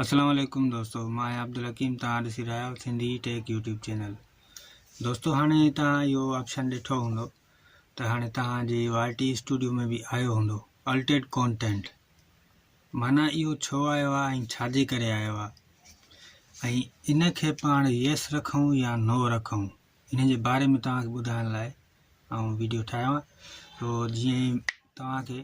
اسلام عليڪم دوستو مان آهيان عبدالحڪيم تان ڏسي رهيا آهيو سنڌي ٽيڪ يوٽيوب چينل دوستو هاڻي تان اهو آپشن ڏٺو هوندو ته هاڻي تان جي آر ٽي اسٽوڊيو ۾ به آيو هوندو الٽيڊ ڪونٽينٽ معنی اهو ڇو آيو آهي ۽ ڇا جي ڪري آيو آهي ۽ ان کي پاڻ يس رکون يا نو رکون ان جي باري ۾ تان کي ٻڌائڻ لاء آئون ويڊيو ٺاهيو آهي تو جيئن تان کي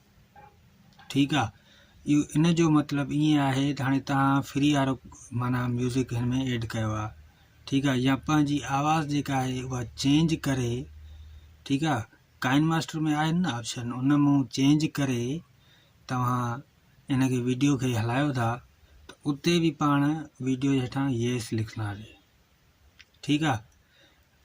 ٺيڪ آ اهو ان جو مطلب ائين آهي ته هاڻي تهان فري وارو معنيٰ ميوزڪ هن ۾ ايڊ ڪيو آ ٺيڪ آ يا پنهنجي آواز جيڪا آهي اها چينج ڪري ٺيڪ آ ڪائن ماسٽر ۾ آهن نه آپشن ان مون چينج ڪري توهان ان کي ويڊيو کي هلايو ٿا ته اتي به پاڻ ويڊيو جي هيٺان ييس لکنداسي ٺيڪ آ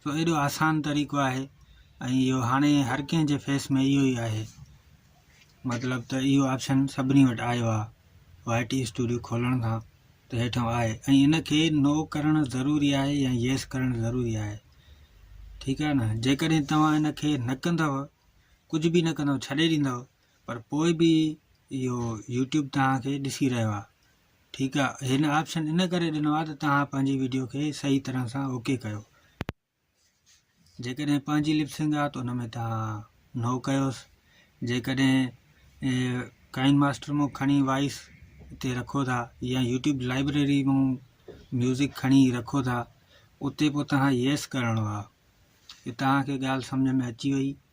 جو ايڏو آسان طريقو آهي ۽ اهو هاڻي هر ڪنهن جي فيس ۾ اهو ئي آهي مطلب ته اهو آپشن سڀني وٽ آيو آهي وائي ٽي اسٽوڊيو کولڻ کان ته هيٺان آهي ۽ ان کي نو ڪرڻ ضروري آهي يا يس ڪرڻ ضروري آهي ٺيڪ آهي ن جيڪڏهن توهان ان کي نه ڪندو ڪجهه به نه ڪندو ڇڏي ڏيندو پر پوء به اهو يوٽيوب توهان کي ڏسي رهيو آهي ٺيڪ آ هن آپشن ان ڪري ڏنو آ ته توهان پنهنجي ويڊيو کي صحيح طرح سان اوڪي ڪيو جيڪڏهن پنهنجي لپسنگ آ ته ان ۾ توهان نو ڪيوس جيڪڏهن ڪائن ماسٽر مون کڻي وائس اتي رکو ٿا يا يوٽيوب لائبريري مون ميوزڪ کڻي رکو ٿا اتي پوء توهان يس ڪرڻو آ توهان کي ڳالهه سمجهه ۾ اچي وئي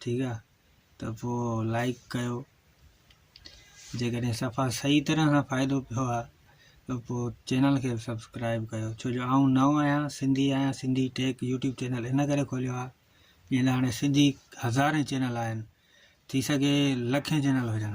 ٺيڪ آ ته پو لائيڪ ڪيو جيڪڏهن صفا صحيح طرح سان فائدو پيو آ ته پو چينل کي سبسڪرائب ڪيو ڇو جو آئون نئون آهيان سنڌي آهيان سنڌي ٽيڪ يوٽيوب چينل ان ڪري کوليو آ جنهن لاء هاڻي سنڌي هزارين چينل آهن ٿي سگهي لکين چينل هجن